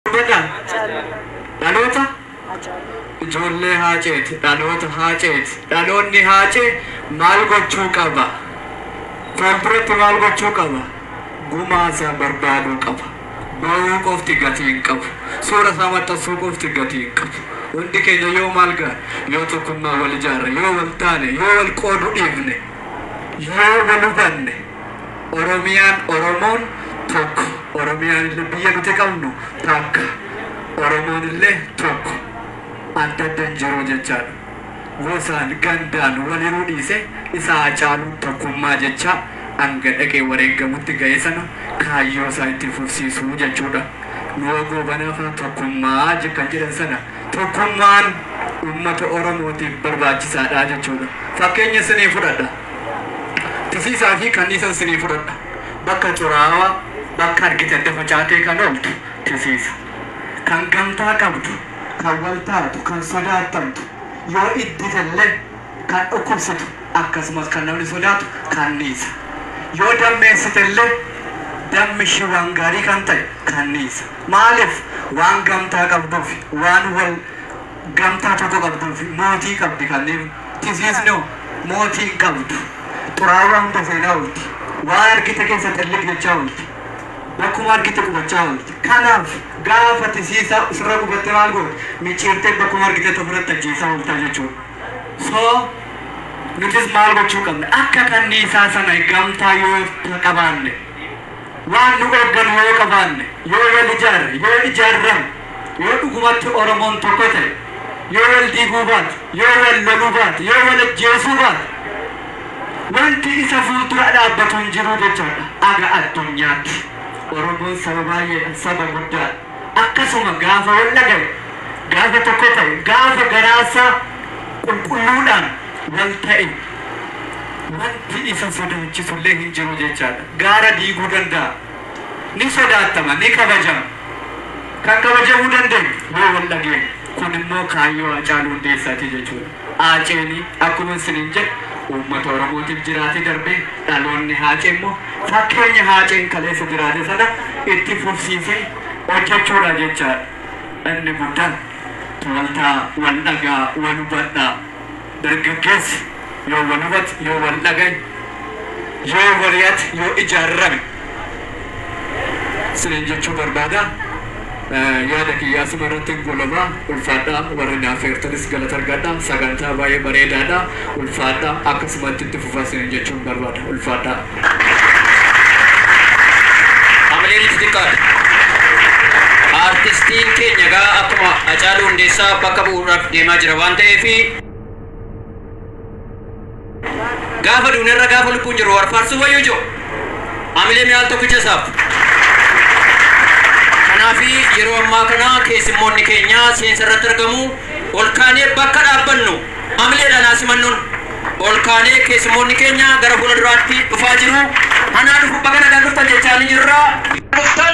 Hubadhaa! Dhaloota ijoollee Haaceeti. Dhaloota Haaceeti. Dhaloonni Haacee maal gochuu qaba? Fuulduratti maal gochuu qaba? Gumaa isaa barbaaduu qaba. Boo'uu qofti gatii hin qabu. Suura isaa maxxansuu qofti gatii hin qabu. Hundi keenya yoo maal gaane? Yoo tokkummaan wal ijaarre, yoo wal taane, yoo wal qooduu dhiifne, yoo wal hubanne, Oromiyaan Oromoon tokko. Oromiyaan illee biyya nuti qabnu takka. Oromoon illee tokko. Adda adda hin jiru jechaadha. Gosaan, gandaan wal hiruu dhiisee isa Haacaaluun tokkummaa jechaa hanga dhaqee wareeggamutti ga'e sana kaayyoo isaa itti fufsiisu jechuudha. Nuwoo Goobanaa faa tokkummaa kan jedhan sana tokkummaan uummata Oromootiif barbaachisaadha jechuudha. Fakkeenya isinii fudhadha. tisiisaa fi kanniisan sinii fudhadha. Bakka xuraawaa, bakka argite adda facaatee kan ooltu tisiisa. Kan gamtaa qabdu, kan wal taatu, kan sodaattamtu, yoo iddite illee kan dhukkubsitu akkasumas kan namni sodaatu kanniisa. Yoo dammeessite illee dammi ishii waan gaarii kan ta'e kanniisa. Maaliif? Waan gamtaa qabduufi, waan wal. Gamtaa tokko qabduufi mootii qabdi kanneen tisiisnu mootii hin qabdu. Xuraawaa hunda seenaa oolti. Waan argite keessa xilliq jechaa oolti. Bakkuma argite qubachaa oolti. Kanaaf gaafa tisiisaa sirra gubatte maal goota? Micciirtee bakkuma argitetti ofirratti ajjeesaa oolta jechuudha. So nutis maal gochuu qabna? Akka kanniisaa sana gamtaa yoo qabaanne. Waan nu eeggannu yoo qabaanne, yoo wal ijaarre, yoo ijaarrame, yoo dhugumatti Oromoon tokko ta'e, yoo wal diiguu baate, yoo wal loluu baate, yoo wal ajjeesuu baate, wanti isa fuuldura dhaabbatu hin jiru jechaadha. Aga addunyaatti Oromoon saba baay'eedha, saba guddaadha. akkasuma gaafa wal dhagayu, gaafa tokko ta'u, gaafa garaasaa qulqulluudhaan wal ta'e wanti isa sodaachisullee hin jiru jechaadha. Gaara diiguu danda'a. Ni sodaattama, ni kabajama. Kan kabajamuu dandeenyu yoo wal dhageenye. Kunimmoo kaayyoo Haacaaluu Hundeessaati jechuudha. Haaceen akkuman siniin jedhe uummata Oromootiif jiraate darbee dhaloonni Haacee immoo fakkeenya Haaceen kaleessa jiraate sana itti fufsiisee hojjechuudha jechaadha. Inni guddaan tooltaa wal dhagaa wal hubadhaa. Dargaggeessi yoo wal hubate, yoo wal dhagaye, yoo mari'ate, yoo ijaarame. Sinin jechuu barbaada yaada kiyya asuma irrattin goolaba ulfaadha warri na affeertanis galata argadha sagantaa baay'ee bareedaadha ulfaadha akkasumatti itti fufaa sinin jechuun barbaada ulfaadha. Hamileen itti xiqqaate. Aartistiin keenya egaa akkuma Hacaaluu Hundeessaa bakka bu'uudhaaf deemaa jira waan ta'eef. Gaafa duune irra gaafa lubbuun jirru war faarsu wayyu jo. Amilee mi'aal tokkicha isaaf. Kanaafi yeroo ammaa kana keessummoonni keenya seensa irratti argamu ol kaanee bakka dhaabbannu amileedhaan haa simannuun ol kaanee keessummoonni keenya gara fuula duraatti dhufaa jiru. Anaa dhufu baga nagaan dhuftan jechaa ni jirra. Dhuftan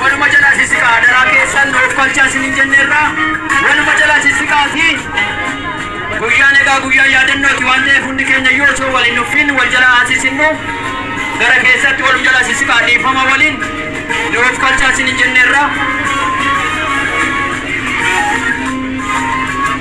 Waluma jalaa sissiqaa adaraa keessan nuuf kolchaa isinin jenneerra. Waluma jalaa sissiqaati. Guyyaan egaa guyyaa yaadannooti waan ta'eef hundi keenya yoo osoo waliin nuffiin wal jalaa haasissinnu gara keessatti walum jalaa sissiqaa dhiifama waliin nuuf kolchaa isinin jenneerra.